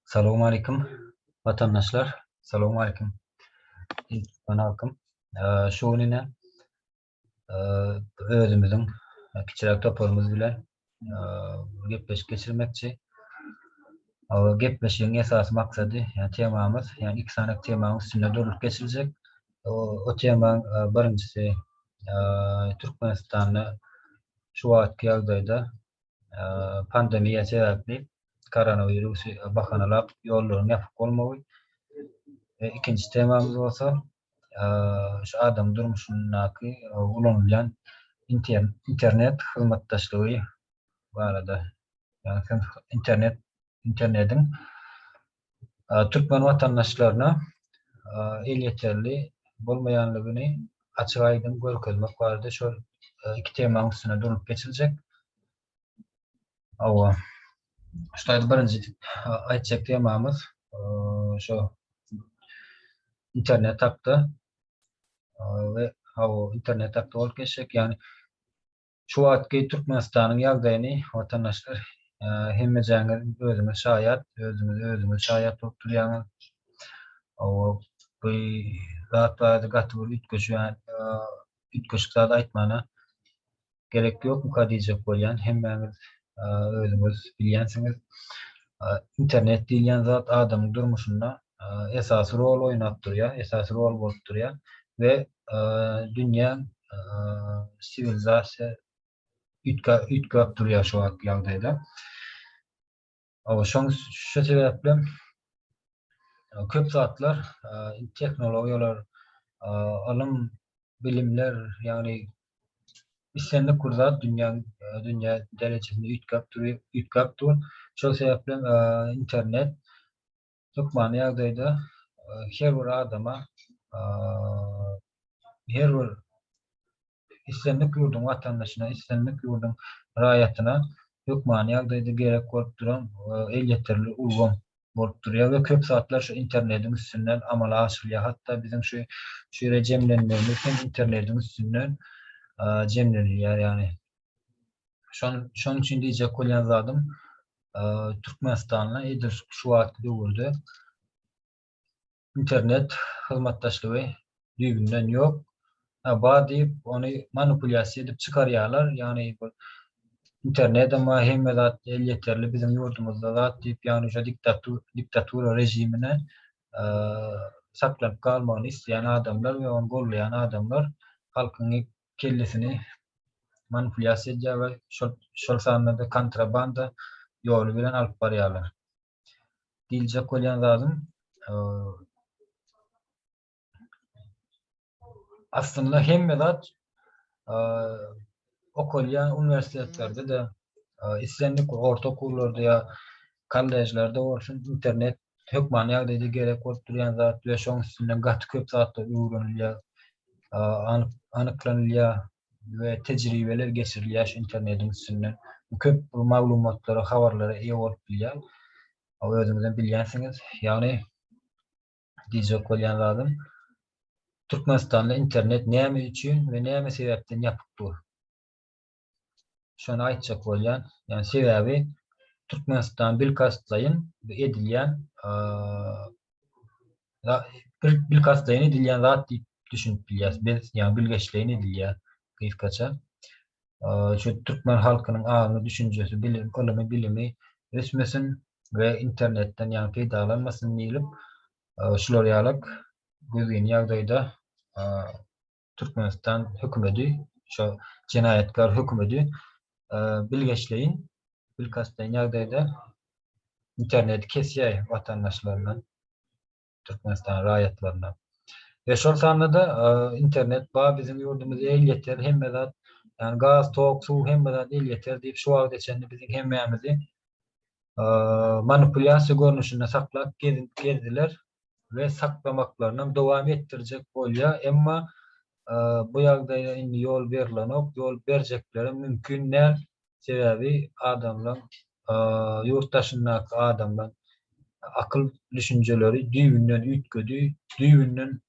Salam aleyküm vatandaşlar. Salam aleyküm. Türkmen halkym. Şu gün ine özümüziň kiçiräk toparymyz bilen gepleşik geçirmekçi. Gepleşigiň esasy maksady, ýa temamyz, ýa iki sany temanyň üstünde durlup geçiljek. O temaň birinjisi Türkmenistanda şu wagtky ýagdaýda pandemiýa sebäpli koronawirusy bahanalap ýollaryň ýapyk bolmagy. Ikinji temamyz bolsa şu adam durmuşyndaky ulanylýan internet hyzmatdaşlygy barada. Ýagny internet internetiň türkmen watandaşlaryna elýeterli bolmaýandygyny açyk-aýdyň görkezmek barada şol iki temaň üstünde durulyp geçiljek. Hawa. Şulardy birinji aýtjak temamyz. Şu internet hakda we hawa internet hakda bolup geçjek. Ýagny Şu wagtky Türkmenistanyň ýagdaýyny watandaşlar hemmejaňiz özüňiz şaýat, özüňize özüňiz şaýat bolup durýaňyz. Hawa, bu zat barada gaty bir üýtgeşýän, üýtgeşik zat aýtmana gerek ýokmuka diýjek bolýan. Hemmäňiz özüňiz bilýänsiňiz, internet diýilýän zat adamyň durmuşynda esasy rol oýnap durýar, esasy rol bolup durýar we dünýä siwilizasiýa üýtgäp durýar şu wagtky ýagdaýda. Şoň şu sebäpli köp zatlar tehnologiýalar, ylym, bilimler, ýagny islendik bir zat dünýäň dünýä derejesinde üýtgäp dur, üýtgäp dur. Şol sebäpli internet Hökmany ýagdaýda her bir adama, her bir islendik ýurduň watandaşyna, islendik ýurduň raýatyna hökmany ýagdaýda gerek bolup duran elýeterli ulgam bolup durýar we köp zatlar şu internetiň üstünden amala aşyrylýar. Hatda biziň şu şu ýere jemlenmegimiz hem internetiň üstünden jemlenilýär. Ýagny Şon, şonuň üçin diýjek bolýan zadym, e, Türkmenistanda edil şu wagtky döwürde internet hyzmatdaşlygy düýbünden ýok. Ha, bar diýip, ony manipulýasiýa edip çykarýarlar. Ýagny bu internet hem bar, hemme zat elýeterli biziň ýurdumyzda zat diýip, ýagny şu diktatur, diktatura režimine e, saklanyp galmagyny isleýän adamlar we ony gollaýan adamlar halkyň kellesini manipulýasiýa edýär we şol şol sanda-da kontrabanda ýoly bilen alyp barýarlar. Diýiljek bolýan zadym, aslynda hemme zat okalýan uniwersitetlerde-de, islendik orta okuwlarda ýa kollejlerde bolsun, internet hökmany ýagdaýda gerek bolup durýan zat we şoň üstünden gaty köp zatlar öwrenilýär, anyklanylýar we tejribeler geçirilýär şu internediň üstünden. Köp maglumatlara, habarlara eýe bolup bilýär. Özüňizem bilýänsiňiz, ýagny diýjek bolýan zadym, Türkmenistanda internet näme üçin we näme sebäpden ýapyk dur? Şony aýtjak bolýan. Ýani sebäbi Türkmenistan bilkastlaýyn edilýän bilkastlaýyn edilýän zat diýip düşünip bilýäs. Biz ýani bilgeşleýin edilýär gysgaça. Şu türkmen halkynyň aňy, düşünjesi, bilim, ylmy bilimi ösmesin we internetden ýani peýdalanmasyn diýlip şular ýalak gözgin ýagdaýda Türkmenistan hökümedi, şo jenaýatkar hökümedi bilgeşleýin, bilkastleýin ýagdaýda interneti kesýär watandaşlaryna, Türkmenistan raýatlaryna. Ve şol sanda-da internet bar, biziň ýurdumyzda elýeter, hemme zat, ýagny gaz, tok, suw, hemme zat elýeter diýip, şu wagta çenli biziň hemmämizi manipulýasiýa görnüşinde saklap gezdiler. we saklamaklarynam dowam etdirjek bolýar, emma bu ýagdaýa indi ýol berlenok, ýol berjeklerem mümkin däl, sebäbi adamlaň, ýurt daşyndaky adamlaň akyl düşünjeleri düýbünden üýtgedi, düýbünden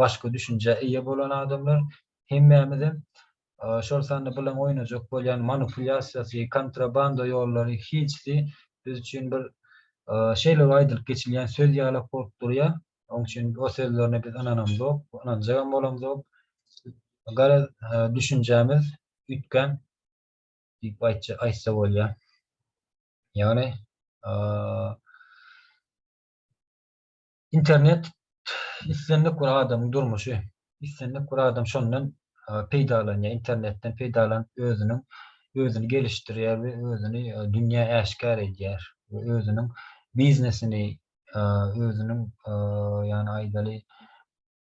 başga düşünjä eýe bolan adamlar, hemmämizem şol sanda bilen oýnajak bolýan manipulýasiýasy, kontrabanda ýollary hiljsi biz üçin bir şeýle aýdylyp geçilýän söz ýalak bolup durýar. Oň üçin o sözlerine biz ynanamzok, ynanjagam bolamzok. Garaz, düşünjämiz üýtgän diýip aýtsa bolýar. Ýagny, Internet islendik bir adamyň durmuşy. Islendik bir adam şondan peýdalanýar, internetden peýdalanyp özüniň özüni gelişdirýär we özüni dünýä äşgär edýär we özüniň biznesini, özüniň ýagny aýdaly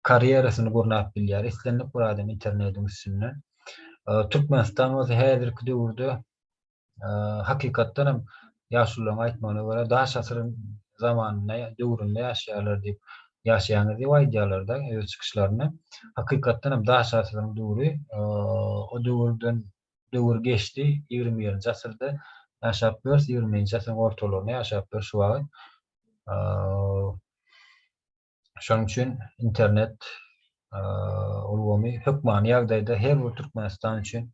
karýerasyny gurnap bilýär islendik bir adam internetiň üstünden. Türkmenistan bolsa häzirki döwürde Hakykatdan hem, ýaşulularyň aýtmagyna görä, daş asyryň zamanynda, döwründe ýaşaýarlar diýip, ýaşaýaňyz diýip aýdýarlar-da öz çykyşlarynda. Hakykatdan hem, daş asyryň döwri, o döwürden döwür geçdi, ýigrimi birinji asyrda ýaşap ýörüs, ýigrimi birinji asyryň ortalaryna ýaşap ýörüs şu wagt. Şonuň üçin internet ulgamy hökmany ýagdaýda her bir Türkmenistan üçin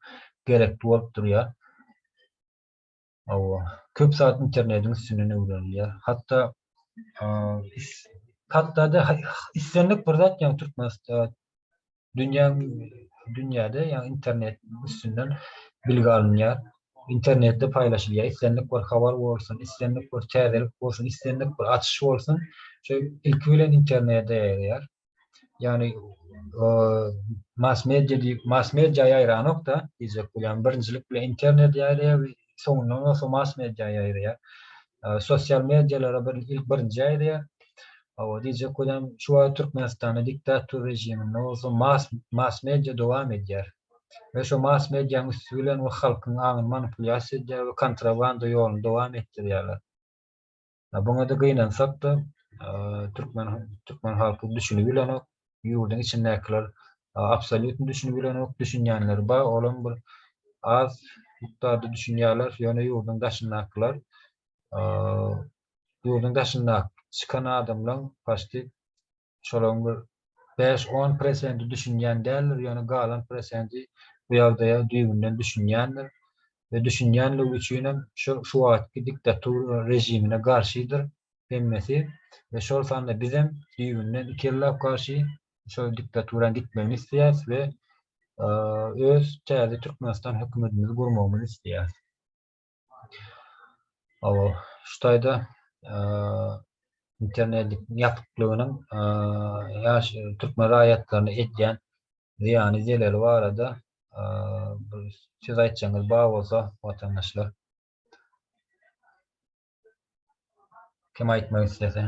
gerekli bolup durýar. Hawa, köp zat internetiň üstünden öwrenilýär. Hatda hatda-da islendik bir zat ýa Türkmenistan dünýä dünýäde ýa internet üstünden bilgi alynýar. Internetde paýlaşylýar. Islendik bir habar bolsun, islendik bir täzelik bolsun, islendik bir açyş bolsun, şu ilki bilen internete ýaýraýar. Ýagny mass-media diýip, mass-media ýaýranok-da diýjek bolýan. Birinjilik bilen internet ýaýraýar we soňundan bolsa mass media ýaýraýar. Sosial medialara bir ilk birinji ýaýraýar. Hawa, diýjek bolýan, şu wagt Türkmenistanda diktator režiminde bolsa mass mass media dowam edýär. We şu mass medianyň üsti bilen we halkyň aňyny manipulýasiýa edýär we kontrabanda ýoluny dowam etdirýärler. Buňa-da gynansak-da, türkmen türkmen halky düşünip bilenok, ýurduň içindäkiler absolýutny düşünip bilenok, düşünýänleri bar, olam bir az mukdarda düşünýärler, ýöne ýurduň daşyndakylar, ýurduň daşyndaky çykan adamlaň paşti Şolaryň bir bäş-on prosenti düşünýän däldir, ýöne galan prosenti bu ýagdaýa düýbünden düşünýändir we düşünýänligi üçinem şol şu wagtky diktatura režimine garşydyr hemmesi we şol sanda bizem düýbünden iki ellap garşy şol diktaturanyň gitmegini isleýäris we öz täze Türkmenistan hökümetimizi gurmagymyzy isleýäris. Oba, şu taýda internetiň ýapyklygynyň ýaş türkmen raýatlaryna edýän zyýany, zeleli barada bir söz aýtjagyňyz bar bolsa, watandaşlar. Kim aýtmak islese.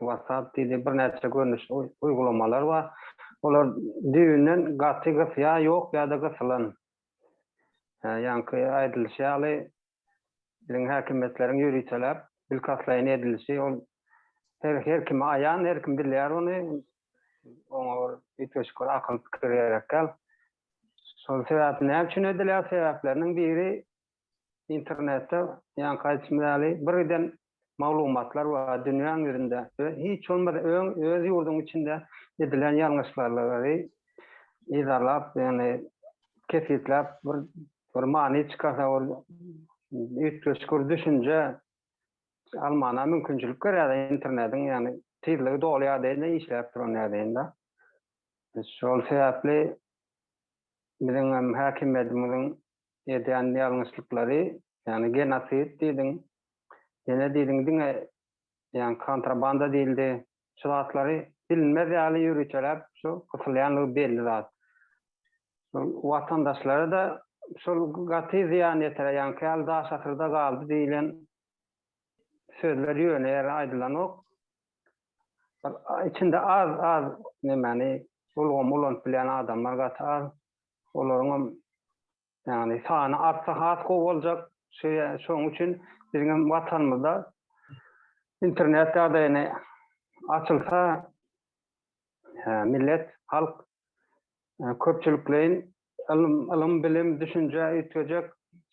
WhatsApp diýdi, birnäçe görnüşli uýgulamalar bar. Olar düýbünden gaty gys ýa ýok ýa-da gysylan. Ýaňky aýdylyşy ýaly, biziň häkimiýetleriň ýöriteläp, bilkastlaýyn edilişi ol her her kime aýan, her kim bilýär ony. Oňa bir üýtgeşik bir akyl pikir gerek däl. Şol sebäpli näme üçin edilýär? Sebäpleriniň biri Internetde ýaňky aýdyşym ýaly bir giden maglumatlar bar dünýäň ýüzünde we hiç bolmasa öň öz ýurduň içinde edilen ýalňyşlarlary yzarlap ýagny kesgitläp bir bir many çykarsa ol üýtgeşik düşünje almana mümkinçilik berýär internetiň ýagny tizligi dolýar deýin işläp duran ýagdaýynda. Şol sebäpli biziň hem häkimiýetimiziň edýän ýalňyşlyklary ýagny genosid diýdiň ýene diýdiň diňe ýagny kontrabanda diýildi şu zatlary bilinmez ýaly ýörüteläp şu gysylýanlygy belli zat şol watandaşlara da şol gaty zyýan ýetirýär ýagny käl daş asyrda galdy diýilen sözler ýöne ýere aýdylanok içinde az az nemäni ulgamy ulanyp bilýän adamlar gaty az olaryň hem ýagny sany artsa has gowy boljak. Şoň üçin biziň hem Watanymyzda internet ýagdaýyny açylsa millet, halk köpçülikleýin ylym, bilim, düşünje üýtgejek.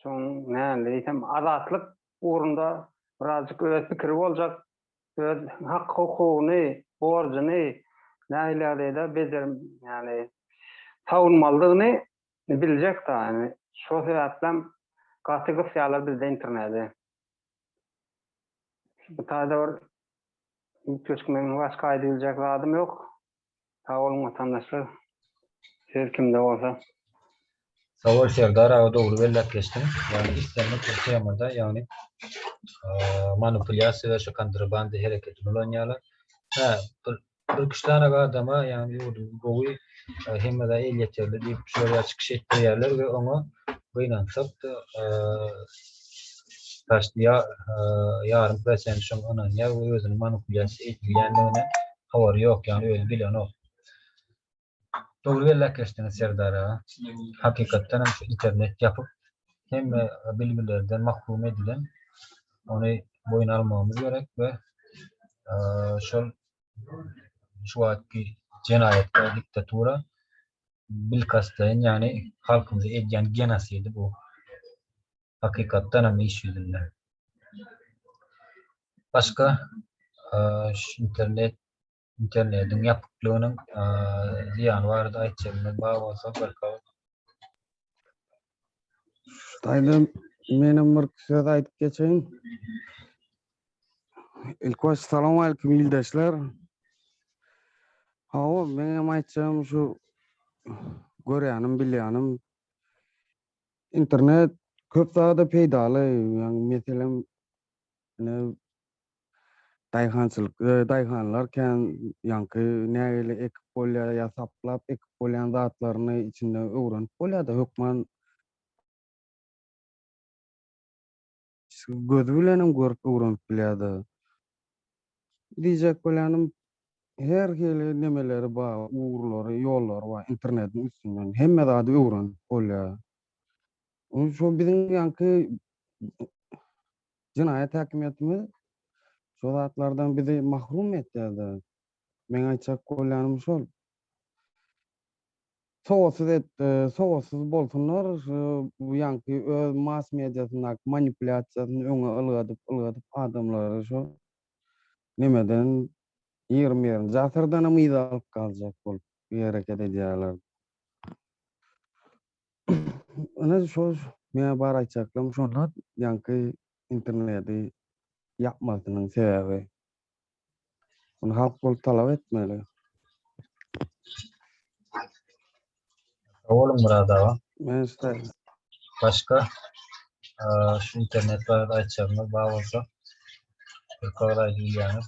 Şoň näme diýsem azatlyk ugrunda birazjyk öz pikiri boljak. öz hak-hukugyny, borjuny nähiliadreýde bejer, ýagny sawunmalydygyny biljek da, indi şo sebäplem gaty gysýarlar bizde internedi. Bu taýda bir üýtgeşik meň başga aýdybiljek zadym ýok. Sag boluň watandaşlar. Söz kimde bolsa. Sagbol Serdar aga dogry belläp geçdiň. Ýagny islendik bir temada ýagny manupulýasiýa we şu kontrabanda hereketini ulanýarlar. Hä bir bir üç sanak adama ýagny ýurdumyz gowy hemme zat elýeterli diýip şol ýa çykyş etdirýärler we oňa gynansak-da başda ýa ýarym prosent şoňa ynanýar we özüni manupulýasiýa edilýändigine howary ýok ýagny özi bilenok. Dogry belläp geçdiňiz Serdar aga. Hakykatdanam şu internet ýapyk hemme bilgilerden mahrum edilen. Ony boýun almagymyz gerek we şol şu wagtky jenaýatkär diktatura bilkastlaýyn ýagny halkymyza edýän genosidi bu. Hakykatdanam iş ýüzünde. Başga şu internet internediň ýapyklygynyň zyýany barada aýtjagyňyz bar bolsa barka. Şutaýda menem bir söz aýdyp geçeýin. İlk baş salam aleyküm ildeşler. Hawa, men hem aýtjagym şu görýänim, bilýänim. Internet köp zada peýdaly. Ýagny meselem Ine, daýhançylyk, daýhanlar kän ýaňky nägile ekip bolýar ýa saplap ekip bolýan zatlaryny içinde öwrenip bolýar-da, hökman gözi bilen hem görüp öwrenip bilýär-de. Diýjek bolýanym, her hili nemeleri bar, ugurlary, ýollary bar, internetiň üstünden hemme zady öwrenip bolýar. Onuň şo biziň ýaňky jenaýat häkimiýetimiz şo zatlardan bizi mahrum etýär-de. Meň aýtjak bolýanym şol. Sowatsyz et, sowatsyz bolsunlar, şu bu ýaňky öz mass mediasyndaky manipulýasiýasyny öňe ylgadyp, ylgadyp adamlary şo nemeden ýigrimi birinji asyrdanam yza alyp galjak bolup hereket edýärler. Ine şol meň bar aýtjaklarym şolar ýaňky interneti ýapmasynyň sebäbi. Muny halk bolup talap etmeli. Sag boluň Myrat aga. Men size. Başga şu internet barada aýtjagyňyz bar bolsa bir kowal aýdyp bilýäňiz.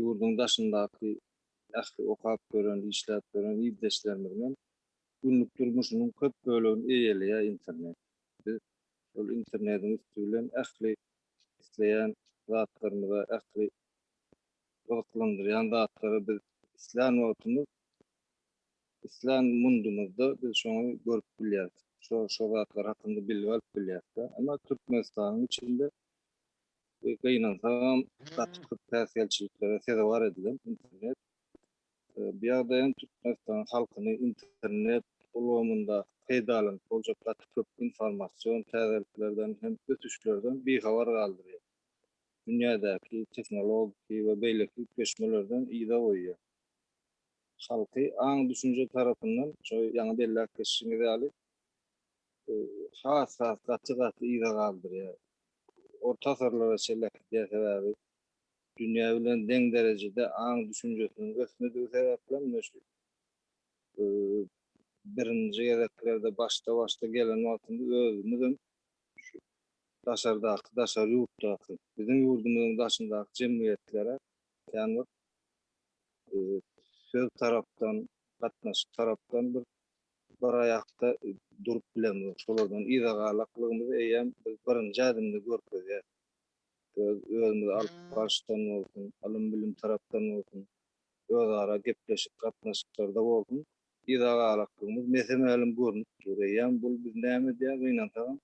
ýurduň daşyndaky ähli okap gören, işläp gören ildeşlerimizem günlük durmuşynyň köp bölegini eýeleýär internet. Biz şol internetiň üsti bilen ähli isleýän zatlarymyza, ähli gyzyklandyrýan zatlara biz islän wagtymyz, islän mundumyzda biz şony görüp bilýäris. Şo zatlar hakynda bilgi alyp bilýäris-de. Emma Türkmenistanyň içinde we gynansagam gaty köp päsgelçiliklere sezewar edilen internet bu ýagdaýyň Türkmenistan halkyny internet ulgamynda peýdalanyp boljak gaty köp informasion täzeliklerden hem ösüşlerden bihabar galdyrýar. Dünýädäki tehnologiki we beýleki üýtgeşmelerden yza goýýar. Halky aň-düşünje tarapyndan şo ýaňy belläp geçişiňiz ýaly has has gaty gaty yza galdyrýar. Orta asyrlara çenli äkidýär sebäbi dünýä bilen deň derejede aň düşünjesiniň ösmedigi sebäpli hem ne şu birinji gezeklerde başda başda gelen wagtymyz özümiz hem şu daşardaky daşary ýurtdaky biziň ýurdumyzyň daşyndaky jemgyýetlere kän bir söz tarapdan gatnaşyk tarapdan bir bir aýakda durup bilemizok. Şolardan yza galaklygymyzy eýýäm biz birinji ädimde görkezýäris. Öz özümizi alyp barşdan bolsun, ylym-bilim tarapdan bolsun, özara gepleşik gatnaşyklarda bolsun, yza galaklygymyz mese-mälim görnüp dur. Eýýäm bul bizi näme edýär, gynansagam,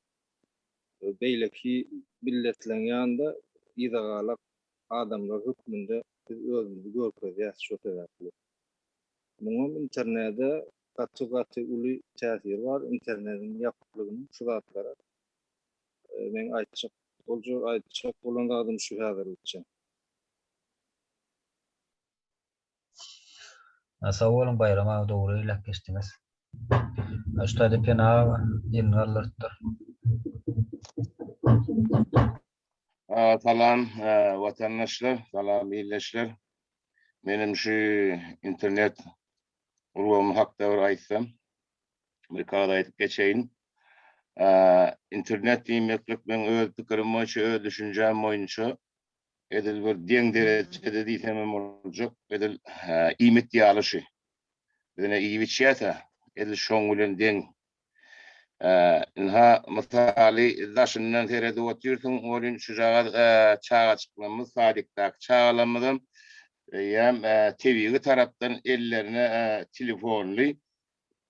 beýleki milletleriň ýanynda yza galak adamlar hökmünde biz özümizi görkezýäris şo sebäpli. Muňam internede gaty gaty uly täsiri bar, internediň ýapyklygynyň şu zatlara meň aýtjak boljak aýtjak bolan zadym şu häzirlikçe. Sag boluň Baýram aga dogry eýläp geçdiňiz. Ustadi Pena aga elini galdyrypdyr. Salam watandaşlar, salam ildeşler. Menem şu internet ulgamy hakda bir aýtsam, bir kagaz aýdyp geçeýin. Internet diýmeklik meň öz pikirim boýunça, öz düşünjäm boýunça edil bir deň derejede diýsem hem boljak, edil iýmit ýaly şu. Biz ine iýip-içýäs-ä, edil şoň bilen deň Ynha, mysaly, daşyndan seredip otyrsyň, welin, şujagaz çagaçyklarymyz, sadikdaky çagalarymyzam eýýäm tebigy tarapdan ellerine telefonly,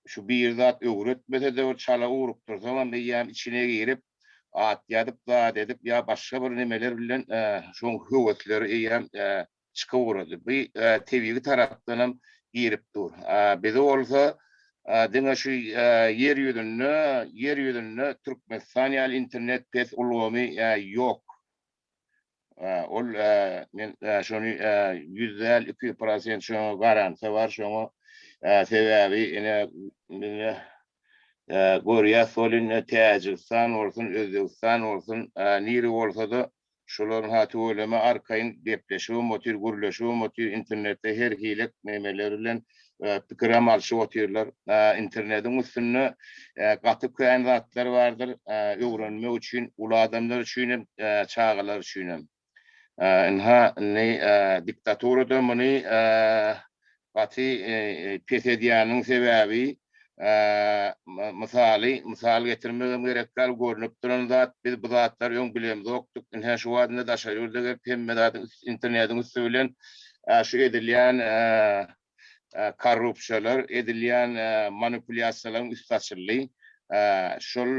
şu bir zat öwretmese-de, bir çala ugrukdyrsaňam, eýýäm içine girip, at ýazyp, zat edip ýa başga bir nimeler bilen şoň höwesleri eýýäm çykyp ugrady. Bu tebigy tarapdanam girip dur. Bizi bolsa diňe şu ýer ýüzünde, ýer ýüzünde Türkmenistan ýaly internet pes ulgamy ýok. Ol men şony ýüz däl, iki prosent şoňa garansiýa bar şoňa. Sebäbi ine indi görýäs, hol indi Täjigistan bolsun, Özbegistan bolsun, nire bolsa-da Şolaryň ha tüweleme arkaýyn gepleşibem otyr, gürleşibem otyr, internetde her hilek nemeler bilen pikirem alşyp otyrlar. Internetiň üstünde gaty kän zatlar bardyr öwrenmek üçin, uly adamlar üçin hem, çagalar üçin hem. Ynha, indi diktatura-da muny Gaty pes edýäniniň sebäbi, mysaly mysal getirmegem gerek däl, görnüp duran zat, biz bu zatlary öň bilemzokdyk, ine-hä şu wagt indi daşary ýurda gelip hemme zady internetiň üsti bilen şu edilýän korrupsiýalar, edilýän manipulýasiýalaryň üsti açyldy. şol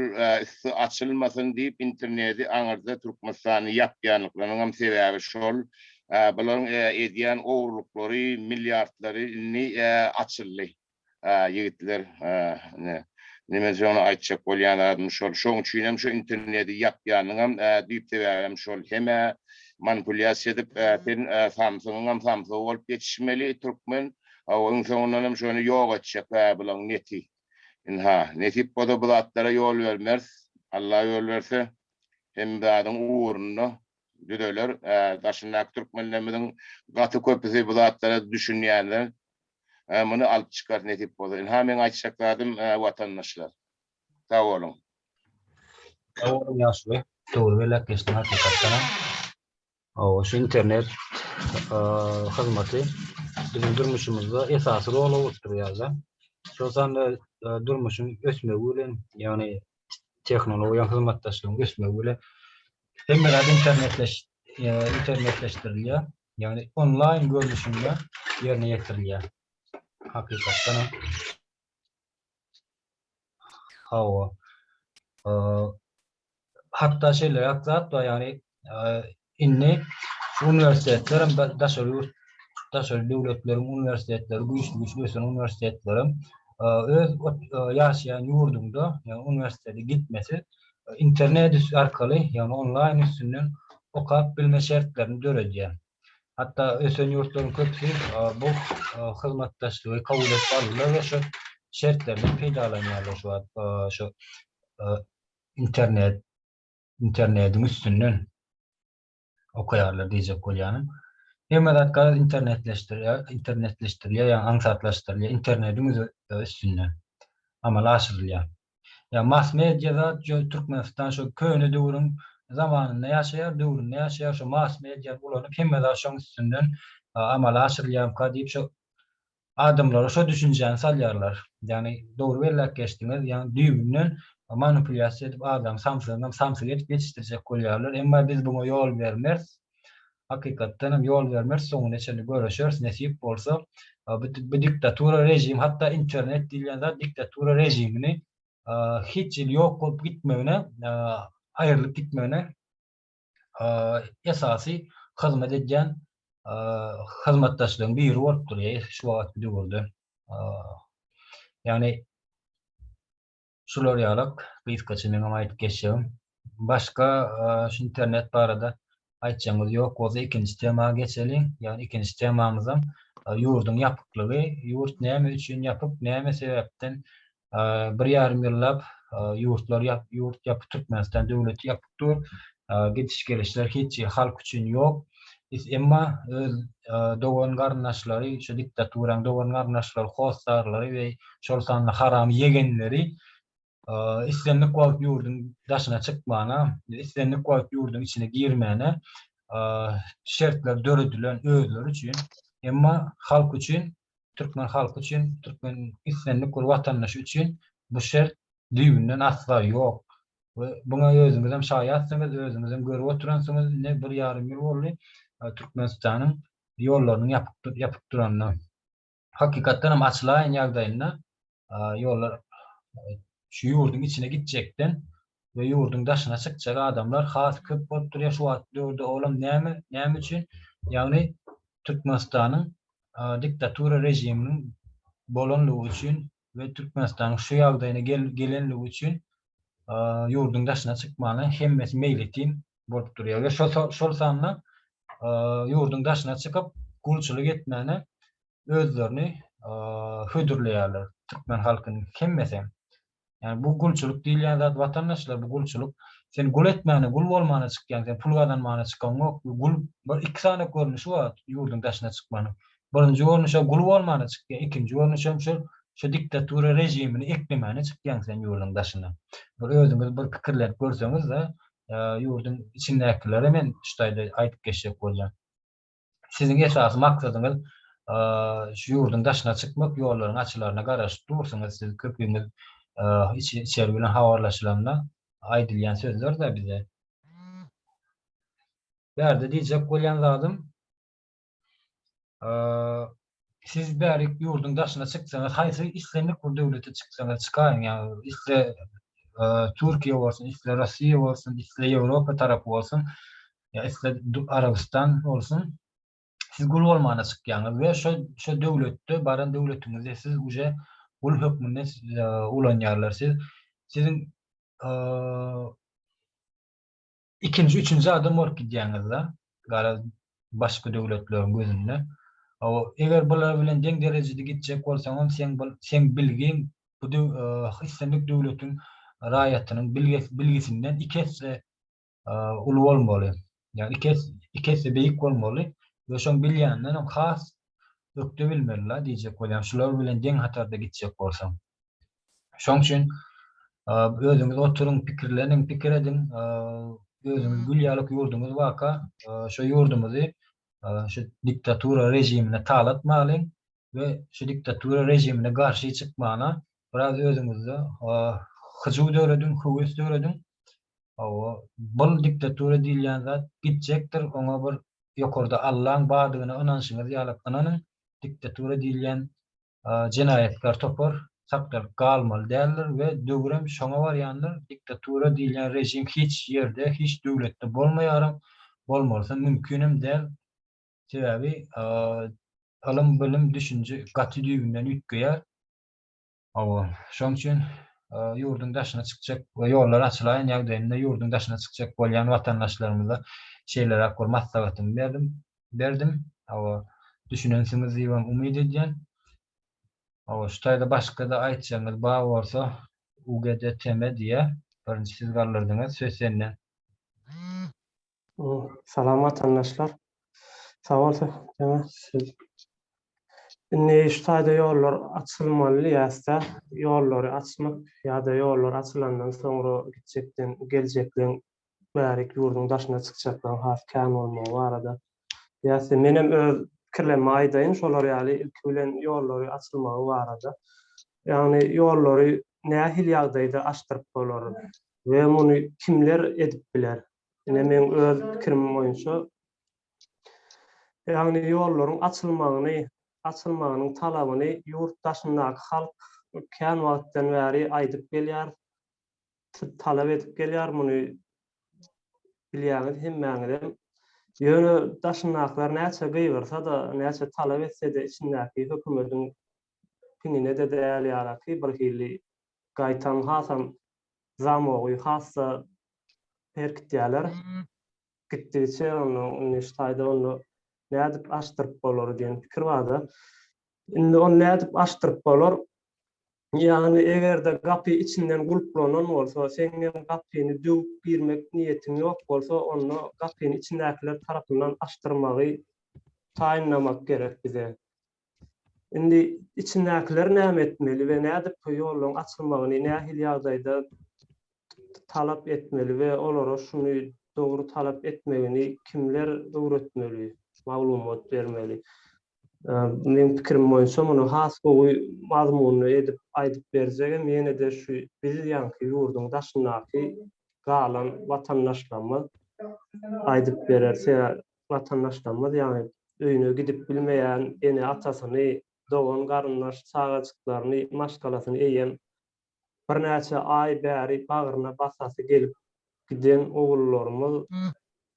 üsti açylmasyn diýip interneti aňyrda Türkmenistany ýapýanlyklarynyňam sebäbi şol. Bularyň edýän ogurlyklary, milliardlary indi açyldy. Ýigitler ine men size ony aýtjak bolýan zadym şol. Şoň üçinem şu interneti ýapýanyňam düýp sebäbem şol. Hemä manipulýasiýa edip sen samsygyňam samsygy bolup ýetişmeli türkmen. Hawa iň soňundanam şony ýok etjek bularyň neti. Ynha, nesip bolsa bu zatlara ýol bermeris. Alla ýol berse, hemme zadyň ugrunda düzeler. Ä, daşyndaky türkmenlerimiziň gaty köpüsi bu zatlara düşünýänler. Ä, muny alyp çykarys nesip bolsa. Ynha, meň aýtjak zadym, watandaşlar. Sag boluň. Sag boluň Ýaşuly. Dogry belläp geçdiň hakykatdanam. Hawa, şu internet hyzmaty biziň durmuşymyzda esasy rol oturýar-da. Şol sanda durmuşyň ösmegi bilen, ýagny tehnologiýanyň hyzmatdaşlygyň ösmegi bilen hemme zat internetleşdirilýär, ýagny onlaýn görnüşinde ýerine ýetirilýär. Hakykatdanam. Hawa. Hatda şeýleräk zat bar, ýagny indi şu uniwersitetlerem daşary ýurt, daşary döwletleriň uniwersitetleri, güýçli-güýçli ösen uniwersitetlerem öz ýaşaýan ýurduňda, ýagny uniwersitete gitmesiz internet arkaly, ýagny onlaýn üstünden okap bilme şertlerini döredýär. Hatda ösen ýurtlaryň köpüsi bu hyzmatdaşlygy kabul edip aldylar we şu şertlerden peýdalanýarlar şu wagt şu internet internetiň üstünden okaýarlar diýjek bolýanym. Hemme zat garaz internetleşdirilýär, internetleşdirilýär, ýagny aňsatlaşdyrylýar, internetiň üstünden amala aşyrylýar. Ýa mass media zat ýa Türkmenistan şo köne döwrüň zamanynda ýaşaýar, döwründe ýaşaýar, şo mass mediany ulanyp hemme zat şoň üstünden amala aşyrylýarmyka diýip şo adamlara şo düşünjäni salýarlar. Ýagny dogry belläp geçdiňiz, ýagny düýbünden manipulýasiýa edip adamy samsygyndan samsyk edip ýetişdirjek bolýarlar. Emma biz buňa ýol bermeris. Hakykatdan hem ýol bermeris soňuna çenli göreşeris nesip bolsa bu diktatura režim hatda internet diýilýän zat diktatura režimini hiç hili ýok bolup gitmegine aýrylyp gitmegine esasy hyzmat edýän hyzmatdaşlygyň biri bolup durýar şu wagtky döwürde ýagny Şular ýalak, gysgaça meň hem aýdyp geçjegim. Başga şu internet barada aýtjagyňyz ýok bolsa ikinji tema geçeliň. Ýagny ikinji temamyzam ýurduň ýapyklygy. Ýurt näme üçin ýapyk, näme sebäpden bir ýarym ýyllap ýurtlar ýapyk, Türkmenistan döwleti ýapyk. dur. Gidiş-gelişler hiç halk üçin ýok. Emma öz dogan-garyndaşlary, şu diktaturaň dogan-garyndaşlary, hossarlary we şol sanda haram ýegenleri islendik wagt ýurduň daşyna çykmana, islendik wagt ýurduň içine girmäne şertler döredilen özleri üçin. Emma halk üçin, türkmen halky üçin, türkmen islendik bir watandaşy üçin bu şert düýbünden asla ýok we muňa özüňizem şaýatsyňyz, özüňizem görüp oturansyňyz, ine, bir ýarym ýyl boldy Türkmenistanyň ýollarynyň ýapyk duranyna. Hakykatdan hem açylaýan ýagdaýynda ýollar şu ýurduň içine gitjekden we ýurduň daşyna çykjak adamlar has köp bolup durýar şu wagt döwürde, olam näme, näme üçin, ýagny Türkmenistanyň diktatura režiminiň bolanlygy üçin we Türkmenistanyň şu ýagdaýyna gelenligi üçin ýurduň daşyna çykmana hemmesi meýletin bolup durýar we şol sanda ýurduň daşyna çykyp gulçulyk etmäne özlerini hödürleýärler türkmen halkynyň hemmesi hem. Ýani bu gulçulyk diýilýän zat watandaşlar bu gulçulyk sen gul etmäne gul bolmana çykýaň sen pul gazanmana çykaňok gul bir iki sany görnüşi bar ýurduň daşyna çykmanyň Birinji görnüşe gul bolmana çykýa ikinji görnüş hem şol şu diktatura režimini eklemäne çykýaň sen ýurduň daşyna. Bir özüňiz bir pikirlenip görseňizde ýurduň içindäkilere men şu taýda aýdyp geçjek bolýan. Siziň esasy maksadyňyz şu ýurduň daşyna çykmak ýollaryň açylaryna garaşyp dursuňyz siz köpüňiz içeri bilen habarlaşylanda aýdylýan sözlerde bize. Bärde diýjek bolýan zadym. siz bärik ýurduň daşyna çyksaňyz, haýsy islendik bir döwlete çyksaňyz çykaýyň, ýagny isle Türkiýe bolsun, isle Russiýa bolsun, isle Ýewropa tarapy bolsun, ýa isle Arabystan bolsun, siz gul bolmana çykýaňyz we şo şo döwletde baran döwletiňizde siz uje gul hökmünde ulanýarlar. Siz siziň Ikinji, üçünji adam bolup gidýäňizda, garaz, başga döwletleriň gözünde, o, eger bular bilen deň derejede gitjek bolsaňam, seň bu, seň bilgiň bu döw, islendik döwletiň raýatynyň bilges, bilgisinden iki esse uly bolmaly. Ýagny iki esse, iki esse beýik bolmaly we şoň bilýändenem has ökde bilmeli-la diýjek bolýan, şular bilen deň hatarda gitjek bolsaň. Şoň üçin özüňiz oturyň, pikirleniň, pikir ediň, özüňiz gül ýalyk ýurduňyz barka, şu ýurdumyzy şu diktatura režimine talatmalyň we şu diktatura režimine garşy çykmana biraz özüňizde hyjuw dörediň, höwes dörediň. Hawa, bu diktatura diýilýän zat gitjekdir, oňa bir ýokarda Allaň bardygyna ynanşyňyz ýalyk ynanyň. Diktatura diýilýän jenaýatkär topar sakdalyk galmaly däldir we döwürem şoňa barýandyr, diktatura diýilýän režim hiç ýerde, hiç döwletde bolmaýaram, bolmalysam mümkinem däl, sebäbi ylym, bilim, düşünje gaty düýbünden üýtgeýär. Hawa, şoň üçin ýurduň daşyna çykjak we ýollar açylaýan ýagdaýynda ýurduň daşyna çykjak bolýan watandaşlarymyza şeýleräk bir maslahatymy berdim. berdim. Hawa, düşünensiňiz diýibem umyt edýän. Hawa, şu taýda başga-da aýtjagyňyz bar bolsa, UGD TM diýýä. Birinji siz galdyrdyňyz, söz sende. Salam watandaşlar. Sag bol Söhbetnama siz. Indi şu taýda ýollar açylmaly diýýäs-dä. Ýollary açmak ýa-da ýollar açylandan soňra gitjekden geljekleň Bärik ýurduň daşyna çykjaklaryň has kän bolmagy barada ýa-se menem öz pikirlerimi aýdaýyn şolar ýaly ilki bilen ýollary açylmagy barada. Ýagny ýollary nähili ýagdaýda açdyryp bolar we muny kimler edip biler? Ine meň öz pikirim boýunça ýagny ýollaryň açylmagyny açylmagynyň talabyny ýurt daşyndaky halk kän wagtdan bäri aýdyp gelýär. talap edip gelýär, muny bilýäňiz hemmäňizem. Ýöne daşyndakylar näçe gygyrsa-da, näçe talap etse-de, içindäki hökümediň piňine-de däl ýalyky bir hili gaýtam hasam zamogy has-da berkitýärler. Gitdigiçe onda indi şu taýda onda nädip aşdyryp bolar diýen pikir bar-da. Indi ony nädip aşdyryp bolar? Ýagny eger-de gapy içinden gulplanan bolsa, seň hem gapyny döwüp girmek niýetiň ýok bolsa, onda gapyny içindäkiler tarapyndan açdyrmagy taýynlamak gerek bize. Indi içindäkiler näme etmeli we nädip bu ýollaryň açylmagyny nähili ýagdaýda talap etmeli we olara şuny dogry talap etmegini kimler öwretmeli, maglumat bermeli? Meň pikirim boýunça muny has gowy mazmunly edip aýdyp berjegem ýene-de şu biz ýaňky ýurduň daşyndaky galan watandaşlarymyz aýdyp berer. Sebä watandaşlarymyz ýagny öýüne gidip bilmeýän ene-atasyny, dogan-garyndaş çagajyklaryny, maşgalasyny eýýäm Birnäçe aý bäri bagryna basasy gelip giden ogullarymyz,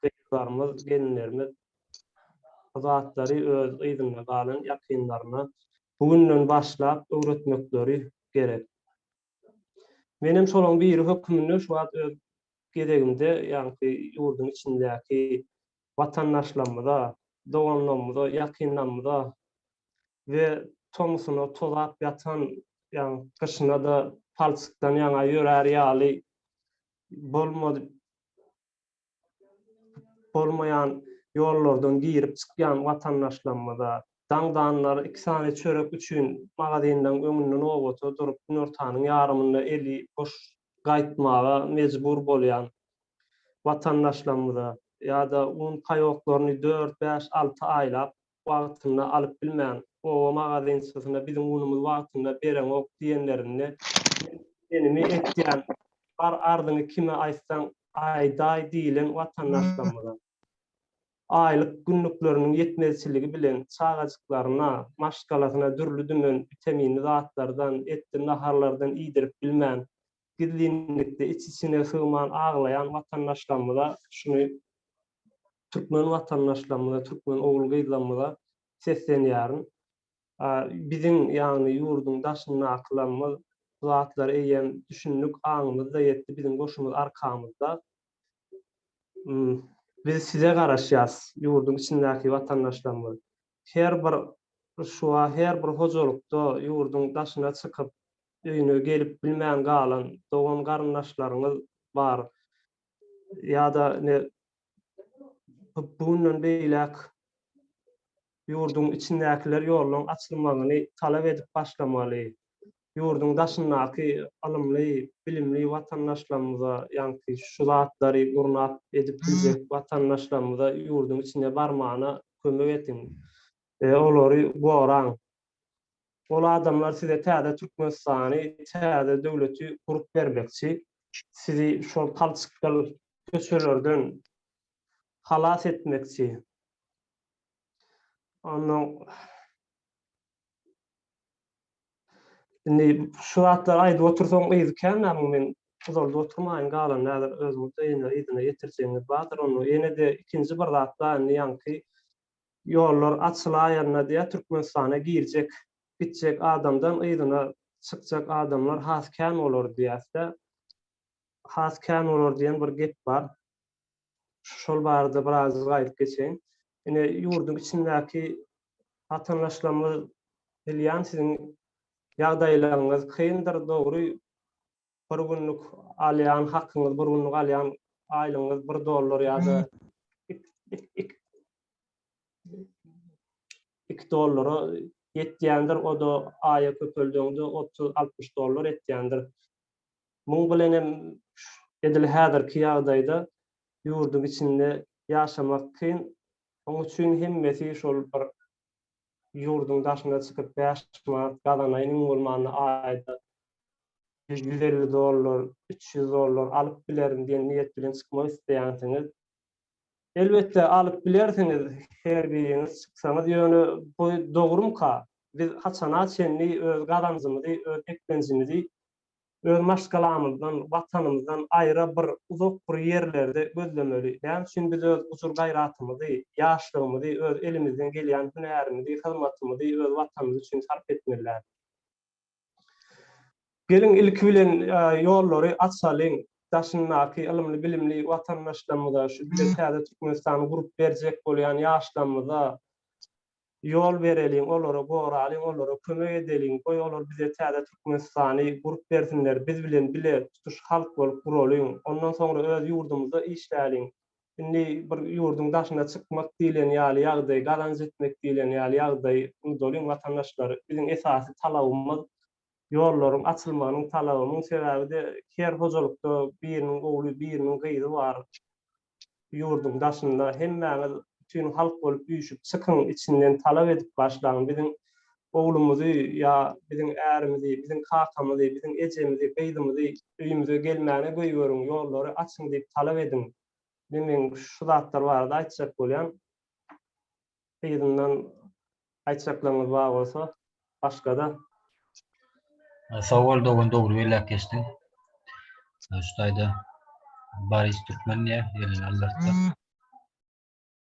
gyzlarymyz, gelinlerimiz bu zatlary öz yzynda galan ýakynlaryna bu günden başlap öwretmekleri gerek. Menem şolaryň biri hökmünde şu wagt öz gezegimde ýaňky ýurduň içindäki watandaşlarymyza, doganlarymyza, ýakynlarymyza we tomusuna tozap ýatan, ýagny gyşyna-da palçykdan ýaňa ýörär ýaly bolmady bolmaýan ýollardan girip-çykýan watandaşlarymyza, daňdanlar iki sany çörek üçin magazinleriň öňünde nobata durup, günortanyň ýarymynda eli boş gaýtmaga mejbur bolýan watandaşlarymyza ýa-da un paýoklaryny dört, bäş, alty aýlap wagtynda alyp bilmän, oba magazynçysyna biziň unumyz wagtynda bereňok diýenlerinde, Men diýenimi etýän, bar arzyňy kime aýtsaň aýdaý diýlen watandaşlarymyza, aýlyk günlükleriniň ýetmezçiligi bilen çagajyklaryna, maşgalasyna dürli-dümen witaminli zatlardan, etli naharlardan iýdirip bilmän, gizlinlikde iç-içine sygman aglaýan watandaşlarymyza şuny türkmen watandaşlarymyza, türkmen ogul-gyzlarymyza seslenýärin. Biziň, ýagny ýurduň daşyndakylarymyz bu zatlary eýýäm düşündik, aňymyz-da ýetdi, biziň goşumyz arkamyzda. Biz size garaşýarys, ýurduň içindäki watandaşlarymyz. Her bir ryswa, her bir hojalykda ýurduň daşyna çykyp, öýüne gelip bilmän galan dogan-garyndaşlaryňyz bar. Ýa-da ine, bu günden beýläk ýurduň içindäkiler ýollaryň açylmagyny talap edip başlamaly. ýurduň daşyndaky ylymly, bilimli watandaşlarymyza, ýaňky şu zatlary gurnap edip biljek watandaşlarymyza ýurduň içine barmana kömek ediň. Olary goraň. Ol adamlar size täze Türkmenistany, täze döwleti gurup bermekçi. Sizi şol palçykgyl köçelerden halas etmekçi. Ondan Indi şu zatlary aýdyp otursaň yzy kän näme men uzalda oturmaýyn galany häzir özüňiz de ýene yzyna ýetirjegiňiz bardyr ony ýenede ikinji bir zat bar indi ýaňky ýollar açylaýanda diýä türkmenistana girjek gitjek adamdan yzyna çykjak adamlar has kän bolar diýäsdä has kän bolar diýen bir gep bar Şol barada birazajyk aýdyp geçeýin. Ine, ýurduň içindäki watandaşlarymyz bilýän, siziň ýagdaýlaryňyz kyndyr, dogry, bir günlük alýan hakyňyz, bir günlük alýan aýlygyňyz bir dollar ýa-da iki dollara ýetýändir, o-da aýa köpeldegiňde otuz, altmyş dollar etýändir. Muň bilen hem edil häzirki ýagdaýda ýurduň içinde ýaşamak kyn. Şoň üçin hemmesi şol bir ýurduň daşyna çykyp bäş manat gazanaýyn iň bolmanda aýda ýüz elli dollar, üç ýüz dollar alyp bilerin diýen niýet bilen çykmak isleýänsiňiz Elbetde alyp bilersiňiz her biriňiz çyksaňyz ýöne bu dogrumyka biz haçana çenli öz gazanjymyzy öz eklenjimizi öz maşgalamyzdan watanymyzdan aýra bir uzak bir ýerlerde gözlemeli näme üçin biz öz gujur gaýratymyzy ýaşlygymyzy öz elimizden gelýän hünärimizi hyzmatymyzy öz watanymyz üçin sarp etmeli dälmiz. Geliň ilki bilen ýollary açalyň, daşyndaky ylymly-bilimli watandaşlarymyza, şu bize täze Türkmenistany gurup berjek bolýan ýaşlarymyza ýol bereliň, olary goralyň, olara kömek edeliň, goý olar bize täze Türkmenistany gurup bersinler, biz bilen bile tutuş halk bolup guralyň, ondan soňra öz ýurdumyzda işläliň, Indi bir ýurduň daşyna çykmak diýlen ýaly ýagdaý, gazanç etmek diýlen ýaly ýagdaý, unudalyň watandaşlar, biziň esasy talabymyz ýollaryň açylmagynyň talaby. Muň sebäbi-de her hojalykda biriniň ogly, biriniň gyzy bar ýurduň daşynda. Hemmäňiz bütin halk bolup üýşüp çykyň, içinden talap edip başlaň. Biziň Oglumyzy ýa biziň ärimizi, biziň kakamyzy, biziň ejemizi, gyzymyzy öýümize gelmäne goýberiň, ýollary açyň diýip talap ediň. Indi meň şu zatlar barada aýtjak bolýan. Yzyndan aýtjaklaryňyz bar bolsa, başga-da. Sag bol dogan dogry belläp geçdiň. Şu taýda Baris Türkmen diýýär, elini aldyrtdy.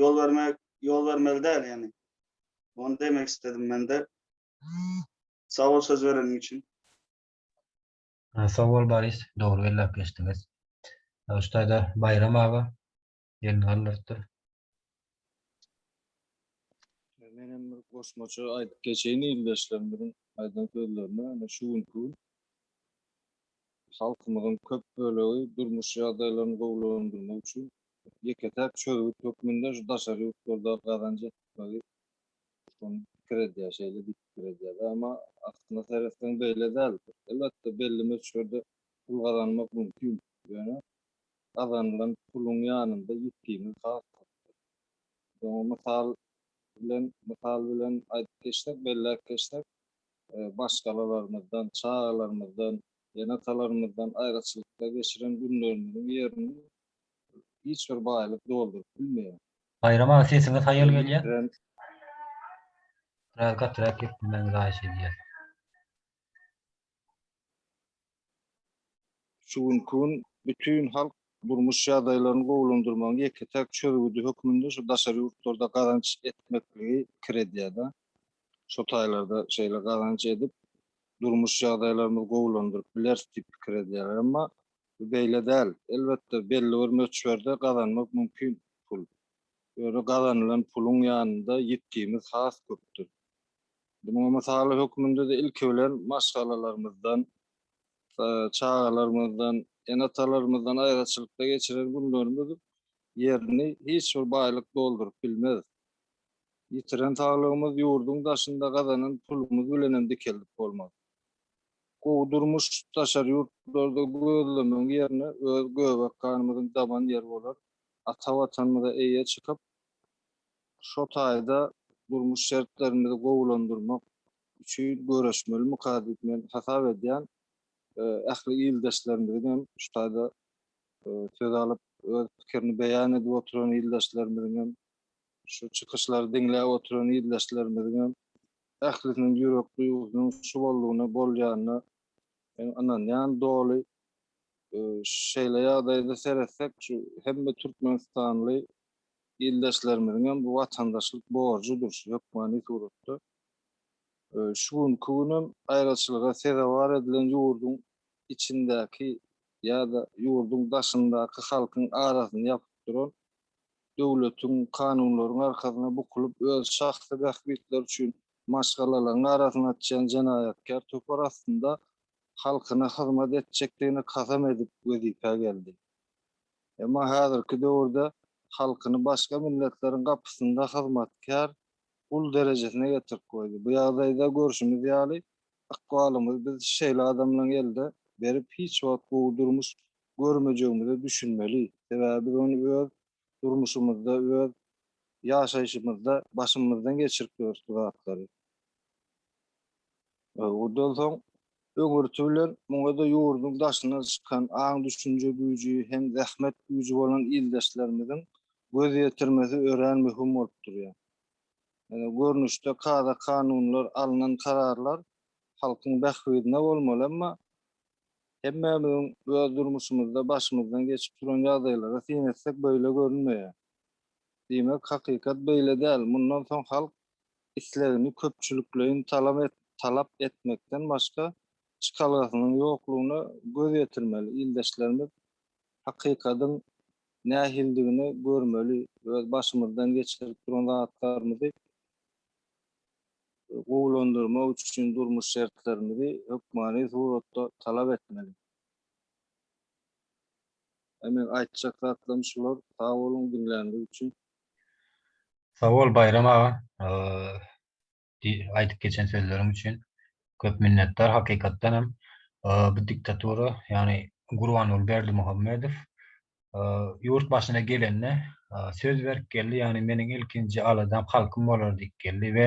Ýol bermek, ýol bermeli däl ýani. Ony demek istedim mende. Sag bol söz bereniň üçin. Sag bol Boris, dogry belläp geçdiňiz. Ştaýda Baýram aga elini galdyrypdyr. Men hem bir goşmaça aýdyp geçeýin ildeşlerimiziň aýdan sözlerine. Ine şu günki gün halkymyzyň köp bölegi durmuş ýagdaýlaryny gowulandyrmak üçin ýeke-täk çözgüt hökmünde şu daşary ýurtlarda gazanç etmegi şony pikir edýär, şeýle diýip pikir edýär-de. Emma aslyna seretseň beýle däl. Elbetde, belli möçberde pul gazanmak mümkin. Ýöne gazanylan puluň ýanynda ýitgimiz has köpdür. Biz oňa mysal bilen mysal bilen aýdyp geçsek, belläp geçsek, maşgalalarymyzdan, çagalarymyzdan, ene-atalarymyzdan aýraçylykda geçiren günlerimiziň ýerini Hiç bir baýlyk dolduryp bilmeýär. Baýram aga sesiňiz haýal gelýär. Biraz gatyrak geplemegiňizi haýyş edýäs. Şu günki gün bütin halk durmuş ýagdaýlaryny gowulandyrmagyň ýeke-täk çözgüdi hökmünde şu daşary ýurtlarda gazanç etmekligi pikir edýär-de. Şo taýlarda şeýle gazanç edip, durmuş ýagdaýlarymyzy gowulandyryp bileris diýip pikir edýärler. Emma Bu beýle däl. Elbetde, belli bir möçberde gazanmak mümkin pul. Ýöne gazanylan puluň ýanynda ýitgimiz has köpdür. Munuň mysaly hökmünde-de ilki bilen maşgalalarymyzdan, çagalarymyzdan, ene-atalarymyzdan aýraçylykda geçiren günlerimiz ýerini hiç bir baýlyk dolduryp bilmez. Ýitiren saglygymyz ýurduň daşynda gazanan pulumyz bilenem dikeldip bolmaz. Gowy durmuş daşary ýurtlarda gözlemegiň ýerine öz göbek ganymyzyň daban ýeri bolar ata Watanymyza eýe çykyp, şo taýda durmuş şertlerimizi gowulandyrmak üçin göreşmelimika diýip men hasap edýän. Ähli ildeşlerimiziň hem şu taýda söz alyp öz pikirini beýan edip oturan ildeşlerimiziň hem şu çykyşlary diňläp oturan ildeşlerimiziň hem Ählisiniň ýürek duýgusynyň şu boldugyna bolýanyna men ynanýan doly. Şeýle ýagdaýda seretsek, şu hemme türkmenistanly ildeşlerimiziňem bu watandaşlyk borjudyr şu hökmany suratda. Şu günki günem aýraçylyga sezewar edilen ýurduň içindäki ýa-da ýurduň daşyndaky halkyň arasyny ýapyp duran döwletiň, kanunlaryň arkasyna bukulyp, öz şahsy bähbitleri üçin maşgalalaryň arasyny açýan jenaýatkär topar astynda halkyna hyzmat etjekdigine kasam edip wezipä geldi. Emma häzirki döwürde halkyny başga milletleriň gapysynda hyzmatkär gul derejesine getirip goýdy. Bu ýagdaýda görşümiz ýaly, ykbalymyz biz şeýle adamlaryň elde berip hiç wagt gowy durmuş görmejegimize düşünmeli. Sebäbi biz ony öz durmuşymyzda, öz ýaşaýşymyzda başymyzdan geçirip ýörüs bu zatlary. Ondan soň öňürti bilen muňa-da ýurduň daşyna çykan, aň-düşünje güýji hem zähmet güýji bolan ildeşlerimiziň göz ýetirmesi örän möhüm bolup durýar. Ýöne görnüşde kada-kanunlar, alnan kararlar halkyň bähbidine bolmaly, emma Hemmämiziň öz durmuşymyzda başymyzdan geçip duran ýagdaýlara syn etsek beýle görünmeýär. Diýmek, hakykat beýle däl, mundan soň halk islegini köpçülikleýin talap etmekden başga çykalgasynyň ýoklugyna göz ýetirmeli, ildeşlerimiz hakykadyň nähilidigini görmeli, öz başymyzdan geçirip duran zatlarymyzy gowulandyrmak üçin durmuş şertlerimizi hökmany suratda talap etmeli. Aý meň aýtjak zatlarym şular. Sag boluň diňlänlik üçin. Sawol Baýram aga aýdyp geçen sözleriň üçin köp minnetdar hakykatdan hem bu diktatura ýagny Gurbanguly Berdimuhamedow Ýurt başyna gelende, söz berip geldi, ýagny meniň ilkinji aladam halkym bolar diýip geldi we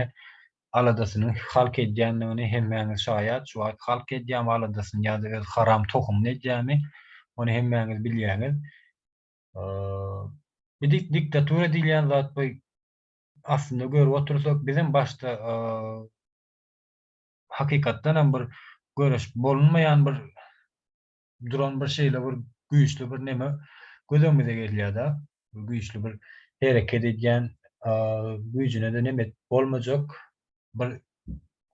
aladasynyň halk edýändigini hemmäňiz şaýat, şu wagt halk edýämi aladasyny ýa-da öz haram tohumyny edýämi, ony hemmäňiz bilýäňiz. Bu diktatura diýilýän zat bu aslynda görüp otursak, bizem başda hakykatdanam bir görüşip bolunmaýan bir duran bir şeýle bir güýçli bir neme göz öňümize gelýär-de, güýçli bir hereket edýän, güýjüne-de neme bolmajak bir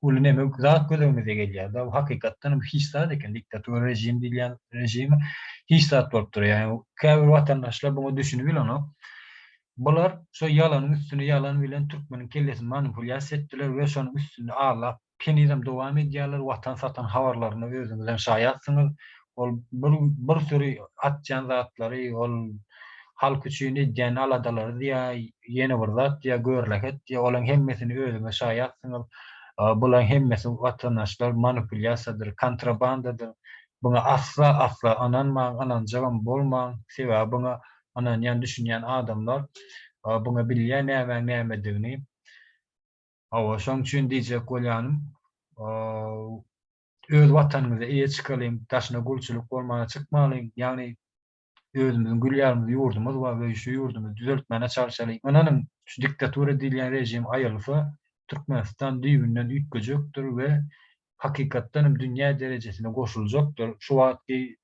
uly neme, zat göz öňümize gelýär-de. Hakykatdan hem hiç zat eken, diktator režim diýilýän režim hiç zat bolup durýar. Ýagny käbir watandaşlar buňa düşünip bilenok. Bular şo ýalanyň üstüne ýalan bilen türkmeniň kellesini manipulýasiýa etdiler we şonuň üstünde aglap Henizem dowam edýärler watan satan habarlaryna özüňizem şaýatsyňyz. Ol bir bir süri atýan zatlary ol halk üçin edýän aladalary diýä ýene bir zat diýä görleket diýä olaň hemmesini özüňiz şaýatsyňyz. Bulaň hemmesi watandaşlar manupulýasiýadyr kontrabandadyr buňa asla asla ynanmaň ynanjagam bolmaň sebäbi buňa ynanýan düşünýän adamlar buňa bilýä nämäň nämedigini. Hawa, şoň üçin diýjek bolýanym, öz Watanymyza eýe çykalyň, daşyna gulçulyk bolmana çykmalyň, ýagny özümiziň gül ýaly ýurdumyz bar we şu ýurdumyzy düzeltmäne çalşalyň. Ynanyň, şu diktatura diýilýän režim aýylsa, Türkmenistan düýbünden üýtgejekdir we hakykatdan hem dünýä derejesine goşuljakdyr. Şu wagtky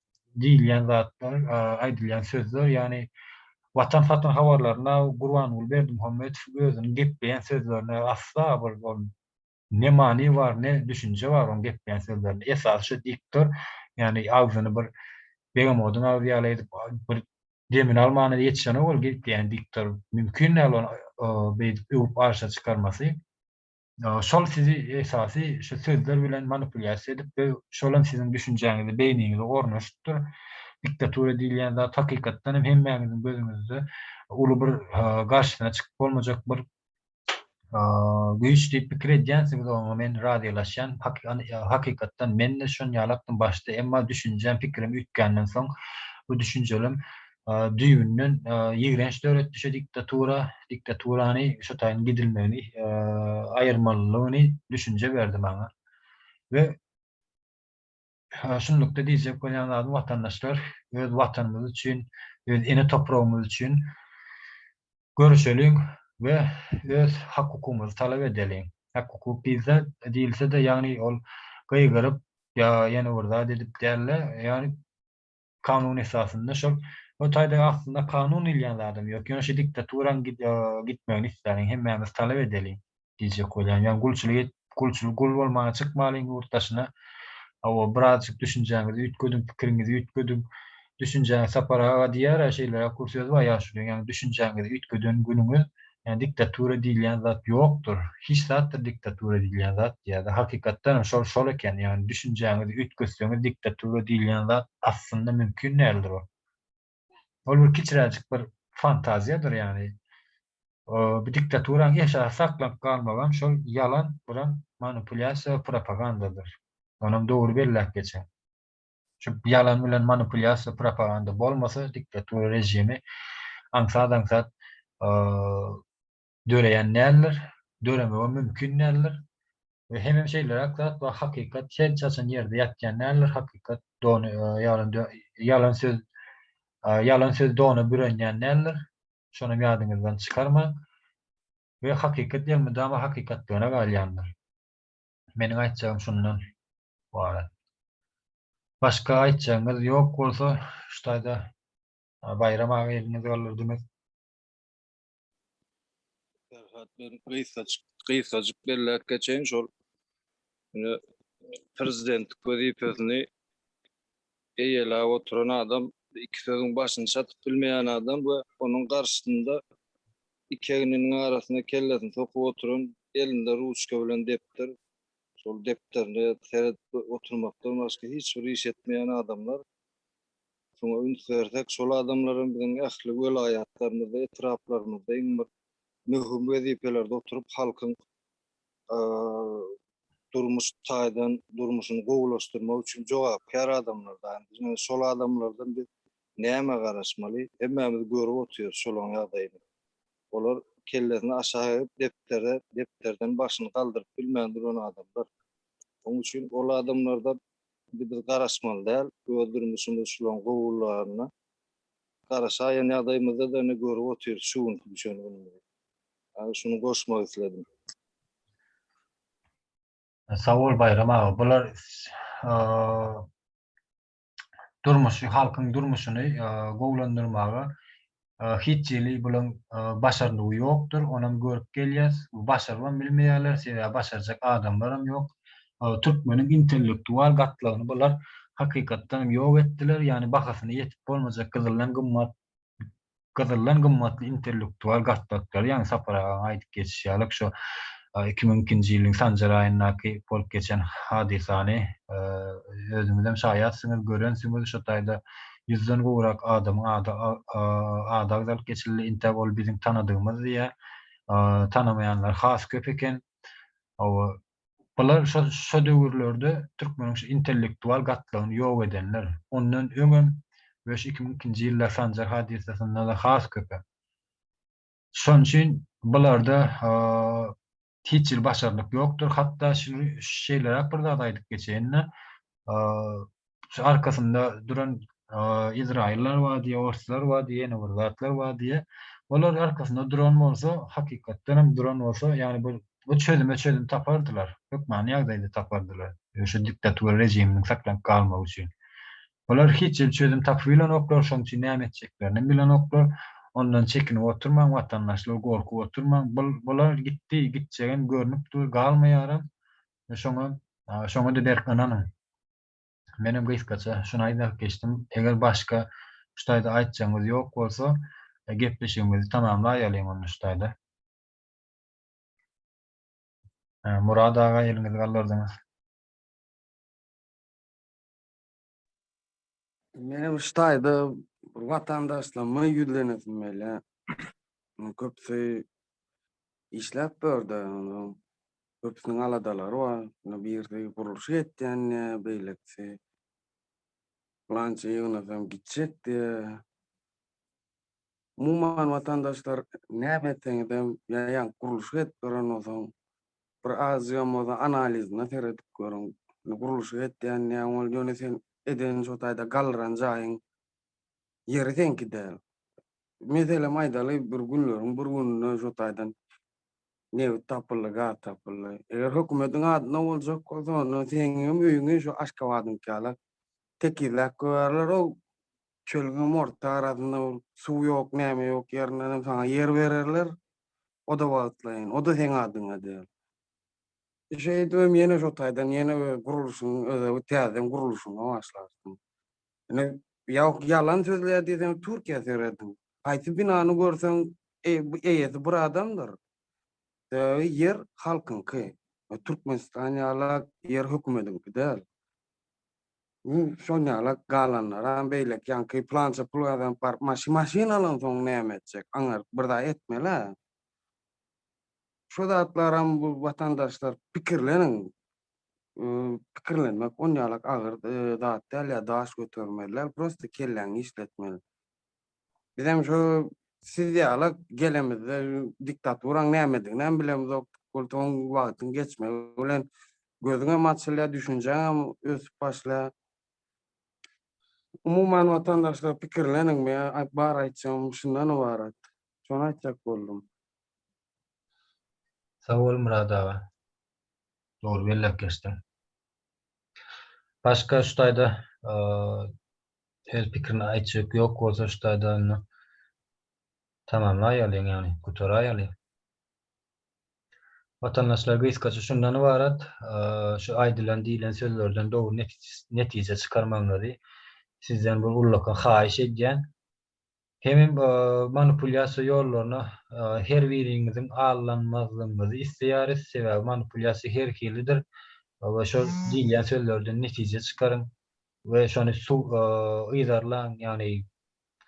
diýilýän zatlar, aýdylýan sözler, ýagny Watan satyn habarlarynda Gurbanguly Berdimuhamedow özüniň gepleýän sözlerine asla bir ol ne many bar, ne düşünje bar onuň gepleýän sözlerinde. Esasy şu diktor, ýagny agzyny bir begemodyň agzy ýaly edip, bir demini almana ýetişenok ol gepleýän diktor. Mümkin däl ony beýdip öwüp arşa çykarmasy. Şol sizi esasy şu sözler bilen manipulýasiýa edipdir, şolam siziň düşünjäňizi, beýniňizi ornaşypdyr. Diktatura diýilýän zat hakykatdan hem hemmäňiziň gözüňizde uly bir garşysyna çykyp bolmajak bir güýç diýip pikir edýänsiňiz, oňa men razylaşýan. Hakykatdan men-de şonýalykdym başda, emma düşünjem, pikirim üýtgänden soň bu düşünjelem düýbünden ýigrenç döretdi şu diktatura, diktaturany şu taýyn gidilmegini aýyrmalylygyny düşünje berdi maňa we şunlukda diýjek bolýan zadym watandaşlar öz watanymyz üçin öz ene topragymyz üçin göreşeliň we öz hak hukugymyzy talap edeliň hak hukuk diýilse diýilsede ýagny ol gygyryp ýa ýene bir zat edip dälde ýagny Kanun esasynda şol o taýda aslynda kanun diýilýän zadam ýok. Ýöne şu diktaturaň gitmegini isläliň, hemmämiz talap edeliň diýjek bolýan. Ýagny gulçulyk et, gulçul gul bolmaga çykmalyň ýurt daşyna. Hawa, birazjyk düşünjäňizi üýtgediň, pikiriňizi üýtgediň. Düşünjäňiz Sapar aga diýýär-ä şeýleräk bir söz bar ýaşulyň, ýagny düşünjäňizi üýtgeden günüňiz Ýa diktatura diýilýän zat ýokdur, hiç zatdyr diktatura diýilýän zat diýýärdi. Hakykatdan hem şol şol eken. Ýagny düşünjäňizi üýtgetseňiz diktatura diýilýän zat aslynda mümkin däldir ol. Ol bir kiçiräjik bir fantaziýadyr ýagny. Bu diktaturanyň eşasy saklanyp galmagam şol ýalan, guran manipulýasiýa we propagandadyr. Onam dogry belläp geçen. Şu ýalan bilen manipulýasiýa, propaganda bolmasa, diktatura režimi aňsat-aňsat döreýän däldir, döremegem mümkin däldir. We hemem şeýleräk zat bar, hakykat hiç haçan ýerde ýatýan däldir, hakykat ýalan söz ýalan söz dona bürenýän däldir, şonam ýadyňyzdan çykarmaň. We hakykat elmydama hakykatlygyna galýandyr. Meniň aýtjagym şundan ybarat. Başga aýtjagyňyz ýok bolsa, şu taýda Baýram aga eliňizi galdyrdyňyz. Perhat men gysgajyk gysgajyk belläp geçeýin şol prezidentlik wezipesini Eýeläp oturan adam, iki sözüň başyny çatyp bilmeýän adam we onuň garşysynda iki egniniň arasyna kellesini sokup oturan, elinde ruçka bilen depder, şol depderine seredip oturmakdan başga hiç bir iş etmeýän adamlar. Şuňa üns bersek, şol adamlar hem biziň ähli welaýatlarymyzda, etraplarymyzda iň bir möhüm wezipelerde oturyp, halkyň durmuş taýdan durmuşyny gowulaşdyrmak üçin jogapkär adamlar da indi şol adamlardan biz näme garaşmaly hemmämiz görüp otyrys şolaň ýagdaýyny olar kellesini aşak egip depdere depderden başyny galdyryp bilmän duran adamlar oň üçin ol adamlarda indi biz garaşmaly däl öz durmuşymyz şolaň gowularyna garaşaýan ýagdaýymyzda da indi görüp otyrys şu günki düşen günümizi Ýa-da şuny goşmak isledim. Sag bol Baýram aga. Bular durmuşy, halkyň durmuşyny gowulandyrmaga hiç hili bulaň başarnygy ýokdur. Onam görüp gelýäs. Başarybam bilmeýärler. Sebäbi başarjak adamlaram ýok. Türkmeniň intellektual gatlagyny bular hakykatdanam ýok etdiler. Ýagny bahasyna ýetip bolmajak gyzyldan gymmat gyzyldan gymmatly intellektual gatlaklary, ýagny Sapar agaň aýdyp geçişi ýaly, şu iki müň ikinji ýylyň sanjar aýyndaky bolup geçen hadysany özüňizem şaýatsyňyz, görensiňiz, şo taýda ýüzden gowrak adamyň ady ady agzalyp geçildi, entäk ol biziň tanadygymyz diýýär, tanamaýanlar has köp eken. Hawa, Bular şo döwürlerde türkmeniň şu intellektual gatlagyny ýok edenler. Ondan öňem we şu iki müň ikinji ýylda Sanjar hadysasynda-da has köpe. Şonuň üçin bularda hiç hili başarnyk ýokdur. Hatda şeýleräk bir zady aýdyp geçeýin-de, Şu arkasynda duran Izraýyllar bar diýýär, orslar bar diýýär, ýene bir zatlar bar diýýär. Olar arkasynda duran bolsa, hakykatdan hem duran bolsa, ýagny bu bu çözüme çözüm tapardylar. Hökmany ýagdaýda tapardylar. Şu diktatura režiminiň saklanyp galmagy üçin. Olar hiç hili çözüm tapybilenoklar, şonuň üçin näme etjeklerini hem bilenoklar. Ondan çekinip oturmaň, watandaşlar, gorkup oturmaň. Bul bular gitdi, gitjegem görnüp dur, galmaýaram. Şoňa şoňa-da berk ynanyň. Menem gysgaça şuny aýdalyp geçdim. Eger başga şu taýda aýtjagyňyz ýok bolsa, gepleşigimizi tamamlaýalyň onda şu taýda. Murad aga eliňizi gallardyňyz. Meni bir ştaýda bir watandaşlaryma ýüzlenesim gelýär. Köpüsi işläp börde, köpüsiniň aladalary bar. Ýöne birisi gurluş etýän, beýlekisi plança ýygnasam gitjek diýýär. Umuman watandaşlar näme etseňizem ýaýaňk gurluşyk edip beren bolsaň bir azygam bolsa analizine seredip görüň. Indi gurluşyk etýän diýýäň ol ýöne sen eden şo taýda galdyran jaýyň ýeri seňki däl. Meselem aýdaly bir günleriň bir gününde şo taýdan nebit tapyldy gaz tapyldy. Eger hökümetiň adyna boljak bolsa onda seňňem öýüňi şo Aşgabadyňky ýala tekizläp goýarlar ol Çölüňem orta arasynda bul suw ýok näme ýok ýerindenem saňa ýer bererler oda wagtlaýyn oda seň adyňa däl. Şeýdibem ýene şo taýdan ýene öz gurluşyň özewi täzeden gurluşyna başlarsyň. Ine ýok ýalan sözleýär diýseň türkiýä serediň haýsy binany görseň eýesi bir adamdyr sebäbi ýer halkyňky türkmenistan ýalak ýer hökümediňki däl. Iň şol ýala galanlaram beýleki ýaňky plança pul gazanyp baryp maşyn maşyn alansoň näme etjek aňaryp bir zat etmelä. Şu zatlaram bu watandaşlar pikirleniň. Pikirlenmek on ýalak agyr zat däl ýa daş götermeli däl prosta kelläňi işletmeli. Bizem şu siz ýala gelemizde diktaturaň nämediginem bilemizok. Gultugyň wagtyň geçmegi bilen gözüňem açylýar, düşünjäňem ösüp başlaýar. Umuman watandaşlar pikirleniň meň aý bar aýtjagym şundan ybarat. Şony aýtjak boldum. Sag bol Myrat aga. Dogry belläp geçdiň. Başga şu taýda Öz pikirini aýtjak ýok bolsa ştada onda tamamlaýalyň ýagny gutaraýaly. Watandaşlar gysgaça şundan ybarat şu aýdylan diýilen sözlerden dogry netije çykarmagyňyzy sizden bir ullakan haýyş edýän. Hemem manipulýasiýa ýollaryna her biriňiziň aldanmazlygyňyzy isleýäris, sebäbi manipulýasiýa her hilidir we şol diýilýän sözlerden netije çykaryň we şony yzarlaň, ýagny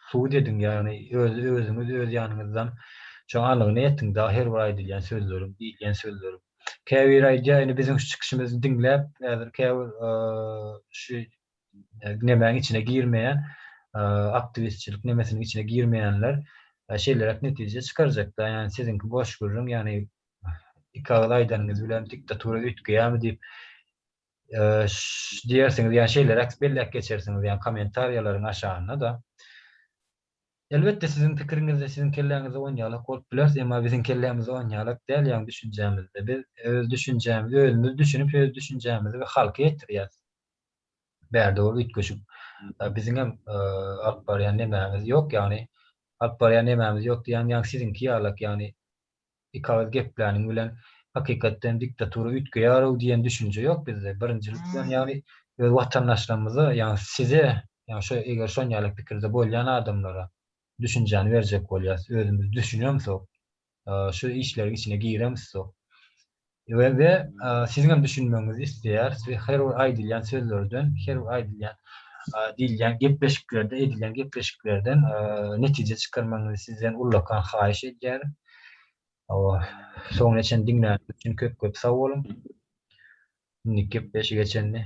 sud ediň, ýagny özüňiz öz ýanyňyzdan şoň anygyna ýetiň, dagy her bir aýdylýan sözleriň, diýilýän sözleriň. Käbiri aýdýar, indi biziň şu çykyşymyzy diňläp, häzir käbir şu nemäň içine girmeýän aktiwistçilik nemesiniň içine girmeýänler şeýleräk netije çykarjakda ýagny siziňki boş gürrüň ýagny iki agyz aýdanyňyz bilen diktatura üýtgeýärmi diýip diýersiňiz ýa şeýleräk belläp geçersiňiz ýa kommentariýalaryň aşagynda da elbetde siziň pikiriňizde siziň kelläňizde oýnaýalyk bolup biler emma biziň kellämizde oýnaýalyk däl ýagny düşünjämizde biz öz düşünjämizi özümiz düşünip öz düşünjämizi we halka ýetirýäs. bärde ol üýtgeşik biziňem alyp barýan nemämiz ýok, ýagny alyp barýan nemämiz ýok diýýän ýaňy siziňki ýalak ýagny iki agyz gepläniň bilen hakykatdan diktatura üýtgeýärow diýen düşünje ýok bizde birinjilik bilen ýagny öz watandaşlarymyza ýagny size ýagny şo eger şon ýaly pikirde bolýan adamlara düşünjäni berjek bolýas özümiz düşünemsok şu işleriň içine giremizok. We we siziň hem düşünmegiňizi isleýäris we her bir aýdylýan sözlerden, her bir aýdylýan diýilýän gepleşiklerde, edilýän gepleşiklerden netije çykarmagyňyzy sizden ullakan haýyş edýäris. Soňuna çenli diňläniňiz üçin köp-köp sag boluň. Indiki gepleşige çenli.